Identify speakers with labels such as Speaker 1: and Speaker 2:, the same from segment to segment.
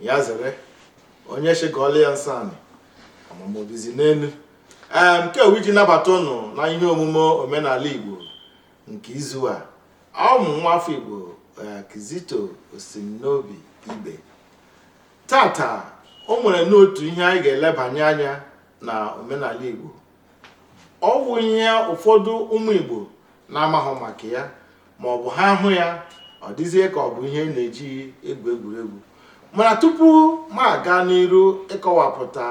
Speaker 1: ya zere onye sị gụọla ya nsọ anị amamobizi n'elu ee nke ọ wụ iji nabata ụnụ na ihe omume omenala igbo nke izu a ọ wụ m nwa afọ igbo eh, kizito osimnobi ibe tata o nwerenụ otu ihe anyị ga-elebanye anya na omenala igbo ọ bụ ihe ụfọdụ ụmụ igbo na-amaghị maka ya ma ọ bụ ha hụ ya ọ dịzie ka ọ bụ ihe a na-eji egwu egwuregwu mana tupu m aga n'iru ịkọwapụta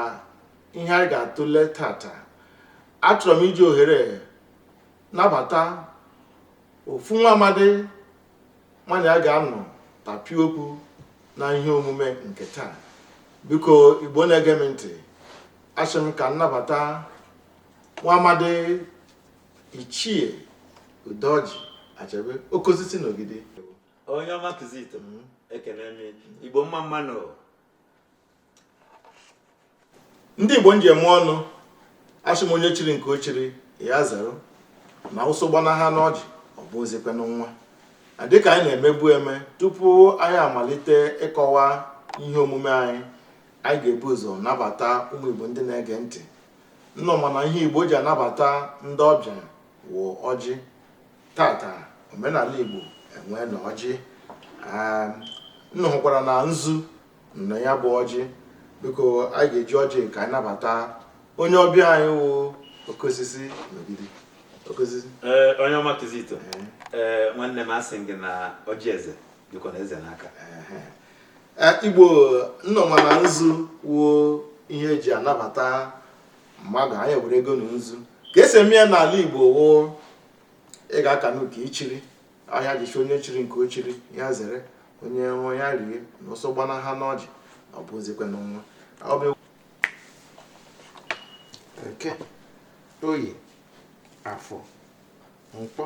Speaker 1: ihe anyị ga-atụle tata achọrọ m iji ohere nabata ofu nwa amadi mụ na ya ga-anọ tapịa okwu na ihe omume nke taa biko igbo na-ege m ntị asị m ka m nabata nwa amadi ichie udoji achebe oke osisi na ogidi onye
Speaker 2: ọma kizito mm. ekene m igbo mma mma
Speaker 1: nụ ndị igbo m ji eme ọnụ asị m onye chiri nke o chiri ya zere na ụsụ gbana ha n'ọjị ọ bụzikwanụ nwa dịka anyị na-emebu eme tupu anyị amalite ịkọwa ihe omume anyị anyị ga-ebu ụzọ nabata ụmụ igbo ndị na-ege ntị ụnụ ma na ihe igbo ji anabata ndị ọbịa wụ ọjị tata omenala igbo enwena ọjị ụnụ hụkwara na nzu na ya bụ ọjị biko anyị ga-eji ọjị ka anyị nabata onye ọbịa anyị wụ oke osisi n'ogidi ee onye ọma
Speaker 2: kizito ee nwanne m asị m gị na ọjị eze dịkwanụ eze n'aka
Speaker 1: igbo ụnụ ma na nzu wụ ihe e ji anabata mmadụ anyị eweregonụ nzu ka e si eme ya n'ala igbo wụ ị ga-akanụ nke i chiri ihe a e ji sị onye chiri nke o chiri ya zere onye nwe ya rie na ọsọ gbana ha n'ọjị ọ bụzikwanụ nwa eke oye afọ nkwọ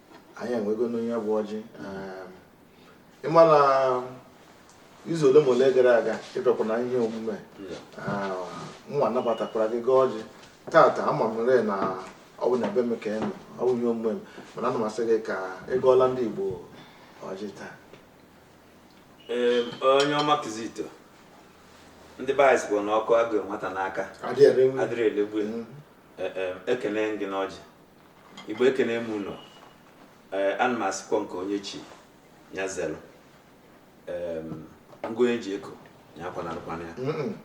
Speaker 1: anyị enwegonụ nya bụ ọjị ehm, ị ma na izu ole ma ole gara aga ị bịakwa na ihe omume a nwa nabatakwara gị gọọ ọjị tata ama m rị na ọ bụ na ebe m ka ị nọ ọ bụ ihe omume m mana ana m asị gị ka ị gọọlụ ndị Igbo ọjị taa
Speaker 2: Ee, onye ọma kizito ndị be anyị sịbu na ọkụ a gụụ nwata n'aka adịrọ elegbu ya. Mm. Ee, ee, ekene m gị n'ọjị igbo ekene m unu ee ana m asịkwa nke onye chi ya zelụ ee ngụ onye ji eko ya akwanarụkwana ya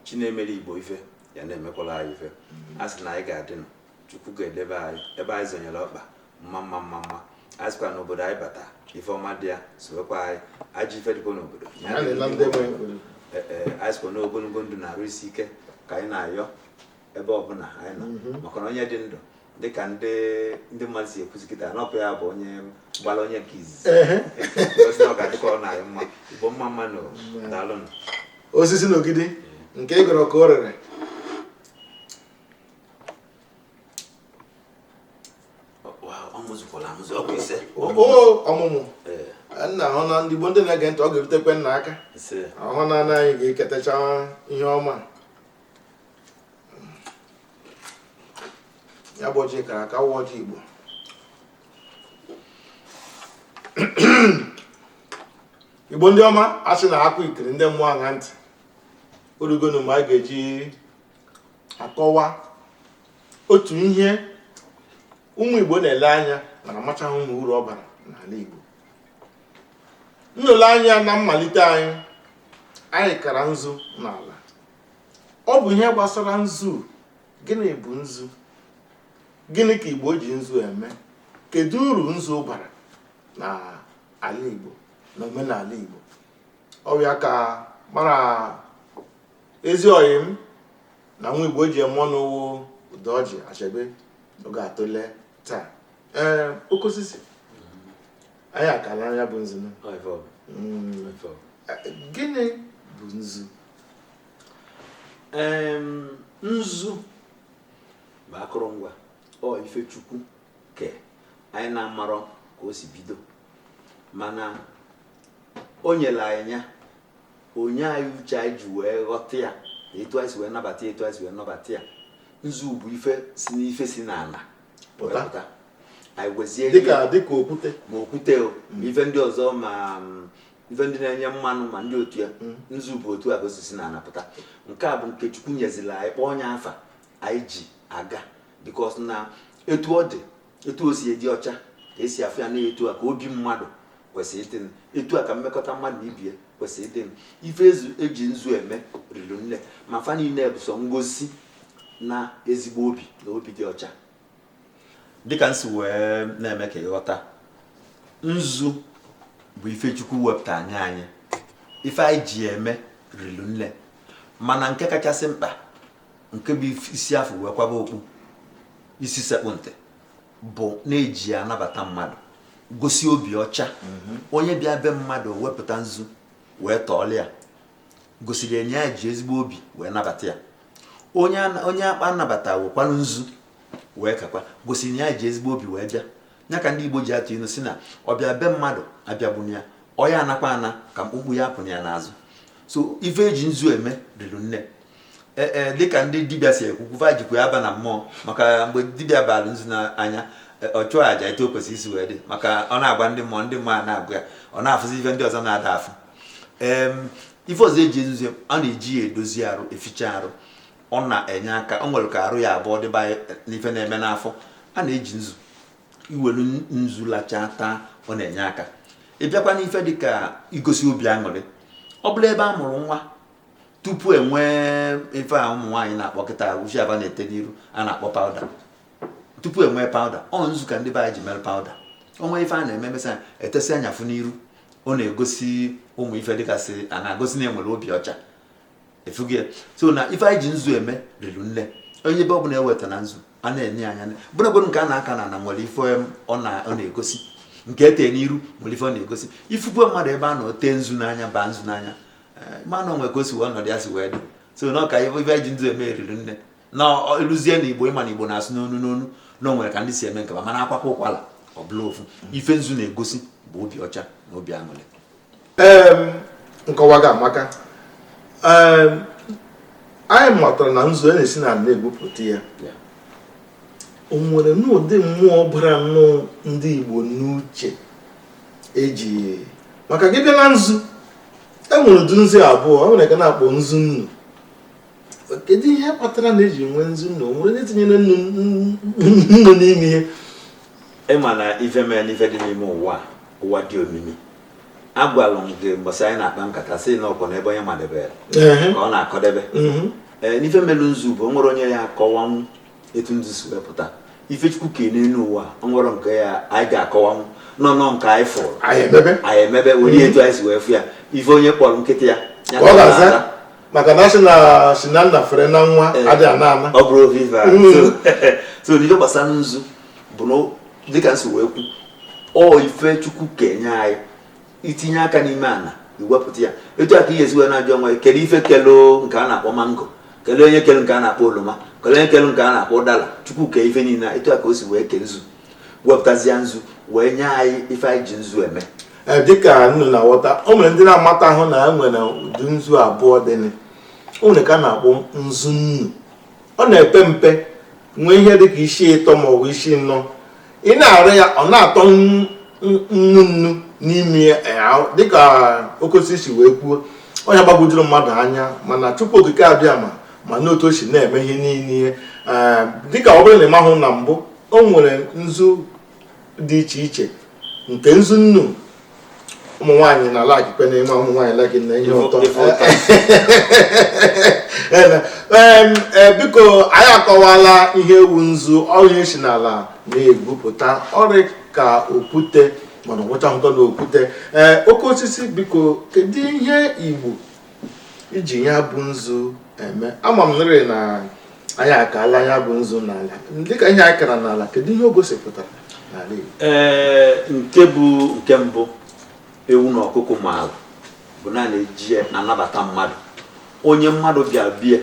Speaker 2: chi na-emere igbo ife ya na-emekwala anyị ife a sị na anyị ga-adị nụ chukwu ga-edebe anyị ebe anyị zonyere ọkpa mma mma mma mma a sịkwa n'obodo anyị bata ife ọma dị ya sowekwa anyị ajọ ife dịkwa n'obodo ya na-ele ndị nwe obodo. Ee, ee, anyị sịkwa n'ogologo ndụ na arụ isi ike ka anyị na-ayọ ebe ọbụla anyị nọ mhm. maka na onye dị ndụ dịka ndị ndị mmadụ si ekwuzi kịta n'ọkụ ya bụ onye gbara onye nke izizi ozi na ọ ga-adịkwalụ anyị mma Igbo mma mma nụ daalụ osisi
Speaker 1: na Ogidi nke ị gọrọ ka o rere ọmụmụ nna hụ na ndị Igbo ndị na-ege ntị ọ ga-erutekwa unu aka ọhụ na anyị ga-eketacha ihe ọma ya bụ ọjị kara aka wụ ọjị Igbo Igbo ndị ọma a sị na akụ ikiri ndị mmụọ aṅa ntị o rugonụ ma a ga-eji akọwa otu ihe ụmụ Igbo na-ele anya mana amachaghị ụm uru ọ bara n'ala Igbo nlele anya na mmalite anyị anyị kara nzu n'ala ọ bụ ihe gbasara nzu gịnị bụ nzu gịnị ka igbo ji nzu eme kedu uru nzu bara na ala igbo na omenala igbo ọ bụ ya ka mụ na ezi ọyị m na nwa igbo ji eme ọnụ wụ Udoji Achebe ọ ga-atụle taa ee oke osisi anyị akala ya bụ nzu hmm. gịnị bụ
Speaker 2: nzu nzu bụ akụrụngwa ọ ife chukwu ke anyị na-amarọ ka o si bido mana o nyere anyị ya o nye anyị uche anyị ji wee ghọta ya etu anyị si wee nabata ya etu anyị si wee nabata ya nzu bụ ife si n'ife si n'ana pụta anyị wezie ya dịka dịka
Speaker 1: okwute ma okwute
Speaker 2: o ma ife ndị ọzọ ma mm, ife ndị na-enye mmanụ ma ndị otu a nzu bụ otu a ka o si esi n'ana pụta nke a bụ nke chukwu nyezila anyị kpọọ onye afa anyị ji aga because na etu ọ dị etu o si adị ọcha ka e si afụ ya na etu a ka obi mmadụ kwesịrị ịdị nụ. etu a ka mmekọta mmadụ na ibe ya kwesịrị ịdị nụ. ife e ji nzu eme riri nne ma fa niile bụ sọ ngosi na ezigbo obi na obi dị ọcha dịka m si wee na-eme ka ị ghọta nzu bụ ife Chukwu wepụta anyị anyị ife anyị ji eme rilu nne mana nke kachasị mkpa nke bụ isi a fụ wee kwaba okpu isi sekpụ ntị bụ na e ji anabata mmadụ gosi obi ọcha mhm. onye bịa be mmadụ wepụta nzu wee tọọlụ ya gosiri na ya ji ezigbo obi wee nabata ya onye akpa anabata wekwanụ nzu wee kakwa gosi na ya ji ezigbo obi wee bịa ya ka ndị Igbo ji atụ ilu sị na ọbịa be mmadụ abịagbuna ya ọ ya-anakwa ana ka mkpukpu apụna ya n'azụ so ife eji nzu eme rilu nne ee e, dịka ndị dibịa si ekwu kwu va jikwa ya aba na mmụọ maka mgbe dibịa bara nzu n'anya e, ọ chụọ aja etu o kwesịrị isi wee dị maka ọ na-agwa ndị mmụọ ndị mmụọ a na-agwa ya ọ na-afụzi ife ndị ọzọ na-ada afụ ife ọzọ eji nzu a na-eji ya edozi arụ eficha arụ ọ na-enye aka o nwere ka arụ ya-abụ ọ dịba n'ife na-eme n'afọ a na-eji nzu i welu nzu lachaa taa ọ na-enye aka ị bịakwa n'ife dịka igosi obi aṅụrị ọ bụla ebe a mụrụ nwa tupu e nwee ife a ụmụ nwaanyị na-akpọ kịta uchi aba na-ete n'iru a na-akpọ powder tupu e nwee powder ọ nzu ka ndị be anyị ji mere powder o nwee ife a na-eme emesịa etesịa ya afụ n'iru ọ na-egosi ụmụ ife dịgasị a na-egosi na enwere obi ọcha ị fụgo ya so na ife anyị ji nzu eme rilu nne onye ebe ọ bụla eweta na nzu a na-enye anya bụrụgodu nke a na-aka n'ana nwere ife ọ na-egosi nke e tee n'iru nwere ife ọ na-egosi ị fụkwa mmadụ ebe a nọ o tee nzu n'anya baa nzu n'anya eh, ma na o nwe ka o si wee ọnọdụ ya si wee dị so na ọka ife anyị ji nzu eme rilu nne na e luzie na Igbo ị ma na Igbo na-asụ n'onu n'onu na o nwere ka ndị si eme nke va mana a kwakwa ụkwala ọ bụlụ ofu ife nzu na-egosi bụ obi ọcha na obi aṅụrị nkọwa
Speaker 1: gị amaka anyị matara na nzu a na-esi n'ala na-egwupụta ya o nwere n'ụdị mmụọ bara nnọọ ndị Igbo n'uche eji maka gị bịa na nzu e nwere ụdị nzu abụọ o nwere nke a na-akpọ nzu nnu kedu ihe kpatara na eji nwee nzu nnu o nwere ndị tinyere nnu n'ime ihe ị
Speaker 2: ma na ife mee n'ife dị n'ime ụwa ụwa dị omimi agwalụ m gị mbọsị anyị na-akpa nkata sị na ọkwa n'ebe onye madebere ka ọ na-akọdebe n'ife melu nzu bụ o nwerọ onye ya-akọwanwu etu nzu si wee pụta ife Chukwu kee n'elu ụwa o nwerọ nke anyị ga-akọwanwu na ọ na ọ nke anyị fụrụ anyị emebe were etu anyị si wee fụ ya ife onye kpọrọ nkịta ya ya Ka ọ ka ọ ga-aza. na-aza.
Speaker 1: maka na a sị na si na nna fere na nwa Ee. adịghị ana ana ọ bụrụ ofu ife a.
Speaker 2: Mm. So- so n'ife gbasara nzu bụ na dịka m si wee kwu ọ ife Chukwu kenye anyị itinye aka n'ime ana iwepụta ya etu a ka ị ya-esi wee na-ajụ onwe gị kedu ife kelu nke a na-akpọ mango kelee onye kelu nke a na-akpọ oloma kelee onye kelu nke a na-akpọ ụdala chukwu kee ife niile a, etu a ka o si wee kee nzu wepụtazie nzu wee nye anyị ife anyị ji nzu eme Ee, dịka ụnụ
Speaker 1: na-aghọta o nwere ndị na-amatahụ na e nwere ụdị nzu abụọ dịnị. o nwere nke a na-akpọ nzu nnu ọ na-epe mpe nwee ihe dị ka isi ịtọ ma ọ bụ isi nnọ ị na-ara ya ọ na-atọ nnu nnu nnu n'ime ya eh, dịka oke osisi si wee kwuo ọ bụ ihe gbagwojuru mmadụ anya mana Chukwu Okike Abịama manụ otu o si na-eme ihe niile eh, dịka ọ bụrụ na ị mahụ na mbụ o nwere nzu dị iche iche nke nzu nnu ụmụ nwaanyị na-alikekwa na ị ma ụmụ nwaanyị like nị ihe ụtọ ee biko anyị akọwala ihe wụ nzu ọ bụ ihe e si n'ala na-egwupụta ọ rị ka okwute mana ọ wụchahụkwanụ okwute ee oke osisi biko kedu ihe igbo iji ya bụ nzu eme ama m nrị na anyị akaala ya bụ nzu n'ala dịka ihe anyị kara n'ala kedu ihe o gosipụtara n'ala Igbo ee nke
Speaker 2: bụ nke mbụ ewu na ọkụkọ maara bụ na a na-eji ya na-anabata mmadụ onye mmadụ bịa be ya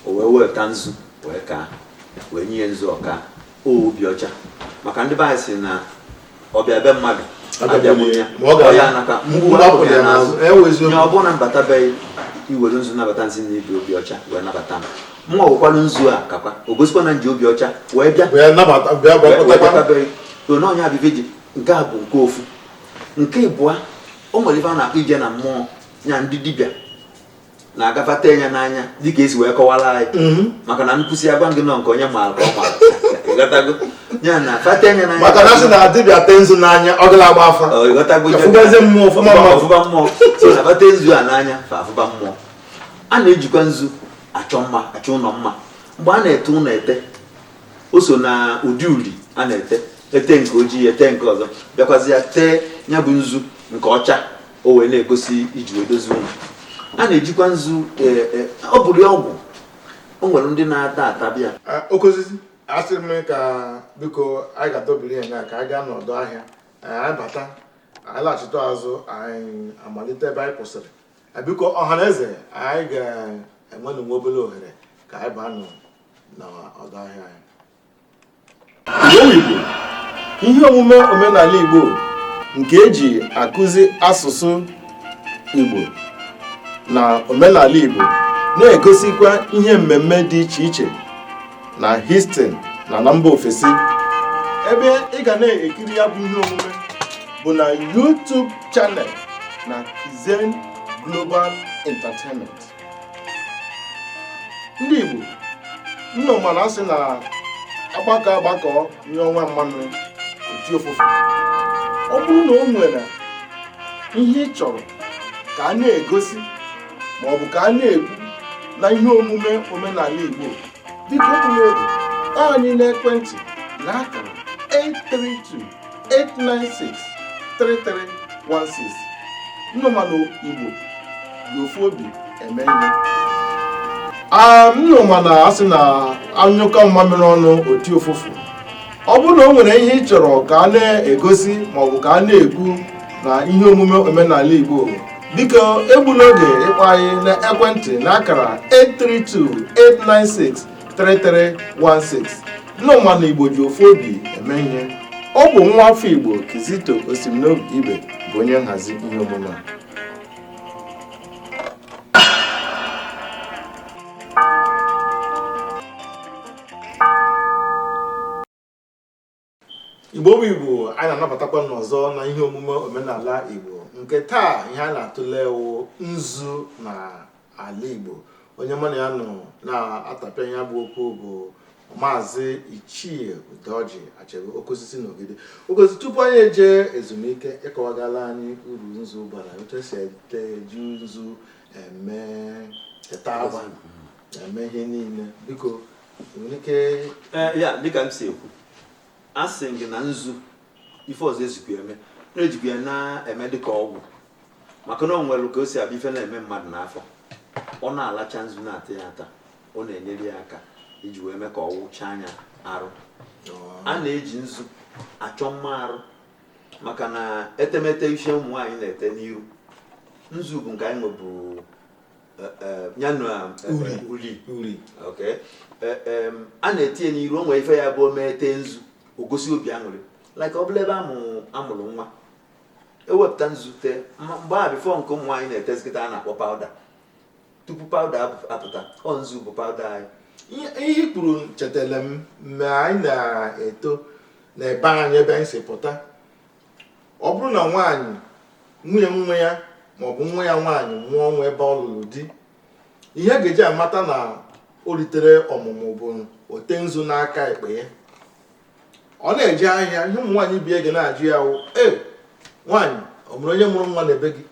Speaker 2: o wee weta nzu wee kaa wee nye ya nzu ọ kaa obi ọcha maka ndị be anyị sị na ọbịa be mmadụ abịagbuna ya ọ naba mkpumkpu apụna ya n'azụ onye ọbụna m bata be gị i were nzu nabata m sị na i bu obi ọcha wee nabata m mụwa wekwalụ nzu a kakwa o gosikwa na m ji obi ọcha wee bịa be gị na onye abịa ji nke a bụ nke ofu nke ịbụa o nwere ife a na-akpọ ije na mmụọ ya ndị dibịa na-agba afa ete ya n'anya dịka esi wee kọwara anyị mhm. maka na nkụsi agwa gị na ọ nke onye maara ka ọ maara ịghọtago ya na fa ete ya n'anya maka na a sị na dibịa tee
Speaker 1: nzu n'anya ọ ga na-agba afa ịghọtago afụbazi
Speaker 2: mmụọ ọfụma mmụọ ọ fụba mmụọ so na fa tee nzu a n'anya fa afụba mmụọ a na-ejikwa nzu achọ mma achọ ụlọ mma mgbe a na-ete ụlọ ete o so na ụdị uri a na-ete e tee nke ojii e tee nke ọzọ bịakwazia tee ya bụ nzu nke ọcha o wee na-egosi e ji wee dozie ụlọ a na-ejikwa nzu e, e, ọ bụrụ ya ọgwụ o nwere ndị na-ata ata bịa oke osisi
Speaker 1: asịrị m ka biko anyị ga-adọbiri ya nga ka anyị gaa n'ọdụ ahịa anyị bata anyị laghachite azụ anyị amalite ebe anyị kwụsịrị Eh, biko ọha na eze anyị ga-enwenụ nwa obere ohere ka anyị baa nụ n'ọdụ ahịa anyị ihe omume omenala Igbo nke eji akụzi asụsụ Igbo na omenala Igbo na-egosikwa ihe mmemme dị iche iche na Houston na na mba ofesi ebe ị ga na-ekiri ya bụ ihe omume bụ na YouTube channel na Kizen Global Entertainment ndị Igbo nnọ mana asị na agbakọ agbakọ nye ọnwa mmanụ oti ofufe ọ bụrụ na o nwere ihe ị chọrọ ka a na-egosi ma ọ bụ ka a na-ekwu na ihe omume omenala Igbo biko kpọtụrụ anyị n'ekwentị na akara 832 896 3316 nnọmanụ igbo ji ofu obi eme ihe nnọ mana asị na anyụkọ mmamịrị ọnụ oti ụfụfụ ọ bụrụ na o nwere ihe ị chọrọ ka a na-egosi maọbụ ka a na-ekwu na ihe omume omenala igbo biko egbula oge ịkpọ anyị n'ekwentị n'akara 832 896 3316 Nnọmanụ Igbo ji ofu obi eme ihe ọ bụ nwa afọ Igbo Kizito Osimnobi Ibe bụ onye nhazi ihe omume a Igbo bụ Igbo anyị na-anabatakwa unu ọzọ na ihe omume omenala Igbo nke taa ihe a na-atụle wụ nzu na ala Igbo onye mụ na ya nọ na-atapịa ya bụ okwu bụ maazị Ichie Udeọjị Achebe Okosisi n'Ogidi Okosi tupu anyị eje ezumike ị kọwagala anyị uru nzu bara otu esi ete eji nzu eme ete agba eme ihe niile biko ya dịka m
Speaker 2: si ekwu asị m gị na nzu ife ọzọ ejikwa eme ejikwa ya na-eme dịka ọgwụ maka na o nwere ka o si abịa ife na-eme mmadụ n'afọ ọ na-alacha nzu na-ata ya ata ọ na-enyere ya aka iji wee mee ka ọ wụchaa anya arụ a na-eji nzu achọ mma arụ maka na etemete isi ụmụ nwaanyị na-ete n'iru nzu bụ nke anyị nwebu a na-etinye n'iru o nwere ife ya bụ omee tee nzu o gosi obi aṅụrị like ọ bụrụ ebe amụrụ nwa ewepụta nzu tee mgbe a before nke ụmụ nwaanyị na-etezi kịta a na-akpọ powder tupu powder apụta ọ nzu bụ powder anyị ihe i kwuru
Speaker 1: chetara m mgbe anyị na-eto na ebe anyị ebe anyị si pụta ọ bụrụ na nwaanyị nwunye nwa ya maọbụ nwa ya nwaanyị mụọ nwa ebe ọ lụrụ di ihe ga-eji amata na o ritere ọmụmụ bụ o tee nzu n'aka ekpe ya ọ na-eje ahịa ihe ụmụ nwaanyị ibe ya ga na-ajụ ya wụ e nwaanyị ọ mụrụ onye mụrụ nwa n'ebe gị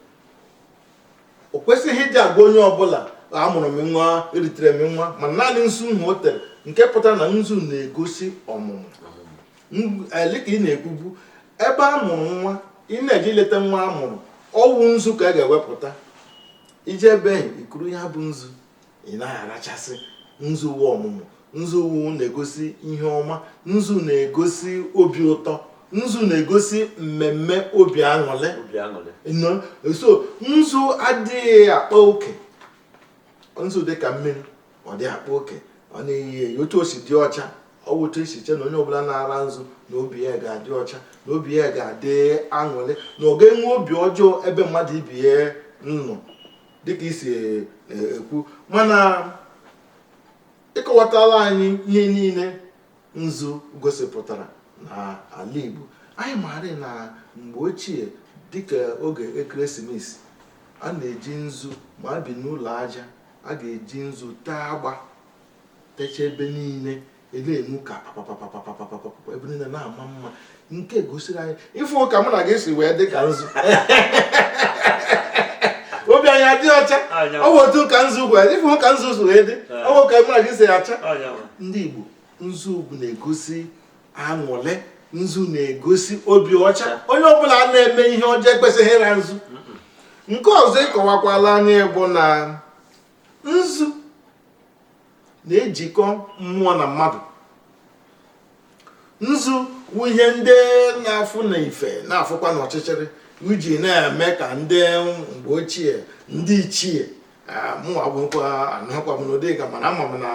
Speaker 1: o kwesịghị ịdị agwa onye ọbụla amụrụ m nwa eritere m nwa ma naanị nzu nhụ o tere nke pụtara na nzu na-egosi ọmụmụ ee dịka ị na-ekwubu ebe a mụrụ nwa ị na-eje ileta nwa a mụrụ ọ wụ nzu ka a ga-ewepụta i je ebe i kuru ya bụ nzu ị na-arachasị nzu wụ ọmụmụ nzu wụ na-egosi ihe ọma nzu na-egosi obi ụtọ nzu na-egosi mmemme obi aṅụrị so nzu adịghị akpa oke nzu dị ka mmiri ọ dịghị akpa oke ọ na-eyi eyi otu o si dị ọcha ọ bụ otu e si che na onye ọbụla na-ara nzu na obi ya ga-adị ọcha na obi ya ga-adị aṅụrị na ọ gaghị enwe obi ọjọọ ebe mmadụ ibe ya nọ dịka i si e, e, ekwu mana ị kọwatala anyị ihe niile nzu gosipụtara na ala Igbo anyị maara na mgbe ochie dịka oge ekeresimesi a na-eji nzu ma a bi n'ụlọ aja a ga-eji nzu tee agba techa ebe niile na-enwu ka papapapapapapapapa ebe niile na-ama mma nke gosiri anyị ị fụ ka mụ na gị si wee dị ka nzu obi anyị adị ọcha ọ bụ otu ka nzu gwa ị fụ ka nzu si wee dị ọ bụ ka mụ na gị si acha ndị Igbo nzu bụ na-egosi aṅụlị nzu na-egosi obi ọcha onye ọbụla na-eme ihe ọjọọ ekwesịghị ịra nzu nke ọzọ ị kọwakwala anyị bụ na nzu na-ejikọ mmụọ na mmadụ nzu wụ ihe ndị na-afụ na ife na-afụkwa n'ọchịchịrị e ji na-eme ka ndị mgbe ochie ndị ichie mụ agwụkwa anụkwa m n'ụdị ka mana ama m na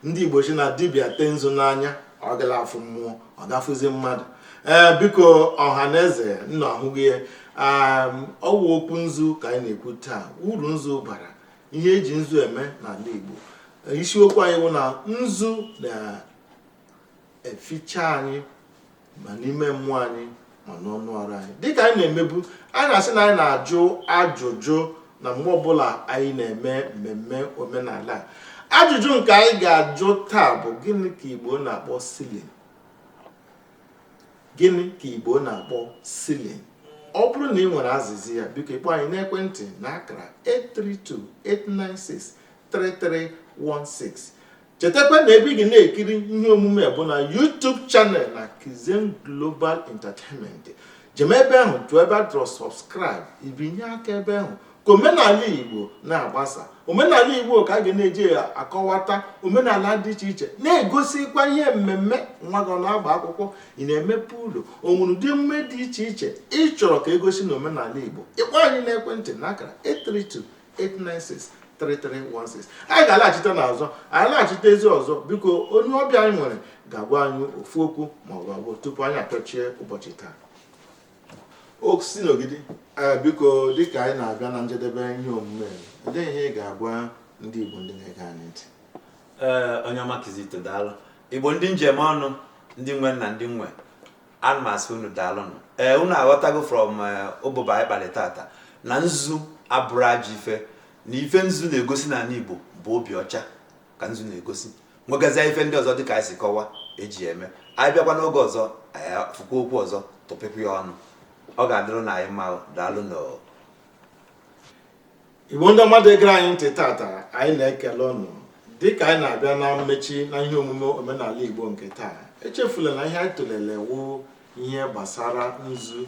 Speaker 1: ndị Igbo sị na dibịa tee nzu n'anya ọ gala afụ mmụọ ọ ga-afụzi mmadụ ee biko ọha na eze nna ahụghị ya ọ wụ okwu nzu ka anyị na-ekwu taa uru nzu bara ihe e ji nzu eme n'ala Igbo isiokwu anyị wụ na nzu na eficha anyị ma n'ime mmụọ anyị ma n'anụ arụ anyị dịka anyị na-emebu anyị na-asị na anyị na-ajụ ajụjụ na mgbe ọbụla anyị na-eme mmemme omenala ajụjụ nke anyị ga-ajụ taa bụ gịnị ka Igbo na-akpọ ceiling gịnị ka Igbo na-akpọ ceiling ọ bụrụ na ị nwere azịza ya biko ị kpọọ anyị n'ekwentị na akara 832 896 3316 chetakwa na ebe ị ga na-ekiri ihe omume bụ na YouTube channel na Kizen Global Entertainment jem ebe ahụ chọọ ebe a dọrọ subscribe i binye aka ebe ahụ ka omenala Igbo na-agbasa omenala Igbo ka a ga na-eji akọwata omenala dị iche iche na-egosikwa ihe mmemme nwa gị ọ na-agba akwụkwọ ị na-emepe ụlọ o nwere ụdị emume dị iche iche ị chọrọ ka e gosi na omenala Igbo ị kpọọ anyị n'ekwentị na akara 832 896-3316 anyị ga-alaghachite n'azụ anyị laghachite ezi ọzọ biko onye ọbịa anyị nwere ga-agwa anyị ofu okwu ma ọ bụ abụọ tupu anyị apịachie ụbọchị taa o si n'ogidi ee biko dịka anyị na-abịa na njedebe ihe omume a, olee ihe ị ga-agwa ndị Igbo ndị na-ege anyị ntị ee onye
Speaker 2: ọma kizito daalụ igbo ndị m ji eme ọnụ ndị nwe m na ndị m nwe ana m asị unu daalụnụ ee unu aghọtago from ụbụbọ anyị kpalị tata na nzu abụrọ ajọ ife na ife nzu na-egosi n'anị Igbo bụ obi ọcha ka nzu na-egosi nwegazia ife ndị ọzọ dịka anyị si kọwa e ji eme anyị bịakwa n'oge ọzọ anyị fụkwa okwu ọzọ tụpịkwuo ya ọnụ ọ ga-adịrụ na anyị mma daalụnụ
Speaker 1: igbo ndị ọma ndị gere anyị ntị tata anyị na-ekele unu dịka anyị na-abịa na mmechi na ihe omume omenala igbo nke taa echefula na ihe anyị tụlere wụ ihe gbasara nzu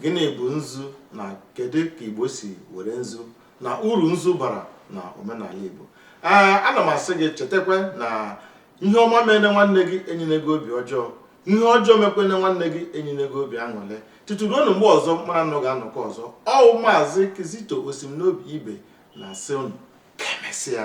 Speaker 1: gịnị bụ nzu na kedu ka igbo si were nzu na uru nzu bara na omenala igbo ee ana m asị gị chetakwa na ihe ọma meene nwanne gị enyene gị obi ọjọọ ihe ọjọọ mekwene nwanne gị enyene gị obi aṅụlị tutu ruo na mgbe ọzọ mụwa na unu ga-anọkọ ọzọ ọ wụ maazị kizito osim n'obi ibe na-asị unu ka emesịa